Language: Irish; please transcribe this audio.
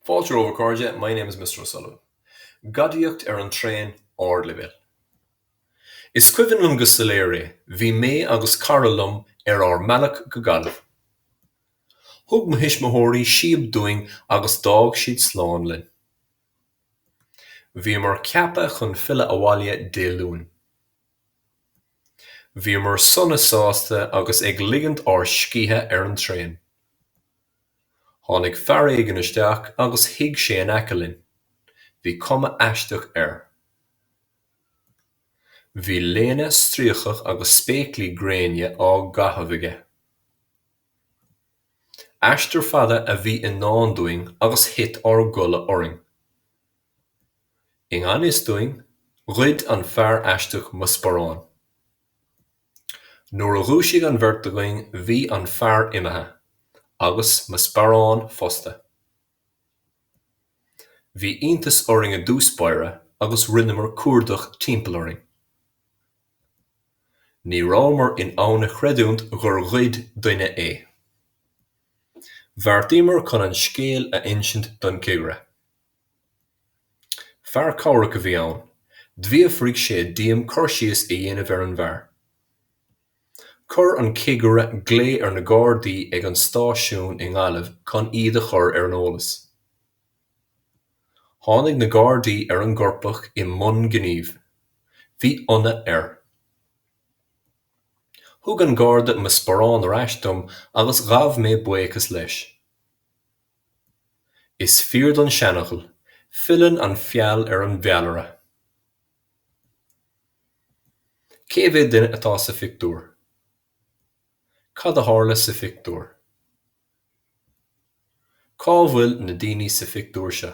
Fáilte romhaibh a chairde, my name is Mr O'Sullivan. Gadaíocht ar an traein ardleibhéil. Is cuimhin liom go soiléir é, bhí mé agus cara liom ar ár mbealach go Gaillimh. Thug mo thuismitheoirí síob dúinn agus d'fhág siad slán linn. Bhíomar ceaptha chun filleadh abhaile Dé Luain. Bhíomar sona sásta agus ag ligint ár scíthe ar an traein. Tháinig fear éigin isteach agus shuigh sé in aice linn. Bhí cuma aisteach air. Bhí léine stríocach agus spéaclaí gréine á gcaitheamh aige. Aistear fada a bhí i ndán dúinn agus thit ár gcodladh orainn. I ngan fhios dúinn, ghoid an fear aisteach mo sparán. Nuair a dhúisigh an bheirt againn bhí an fear imithe agus mo sparán fosta. Bhí iontas orainn i dtús báire agus rinneamar cuardach timpeall orainn. Ní rabhamar in ann a chreidiúint gur ghoid duine é. Bheartaíomar chun an scéal a insint don chigire. Fear cabhrach a bhí ann. D'fhiafraigh sé díom cur síos a dhéanamh ar an bhfear. Chuir an cigire glao ar na Gardaí ag an stáisiún i nGaillimh chun iad a chur ar an eolas. Tháinig na Gardaí ar an gcoirpeach i mbun gnímh. Bhí ionadh air. Thug an Garda mo sparán ar ais dom agus ghabh mé buíochas leis. Is fíor don seanfhocal, Filleann an feall ar an bhfeallaire. Cé mhéad duine atá sa phictiúr? Cad a tharla sa phictiúr? Cá bhfuil na daoine sa phictiúr seo?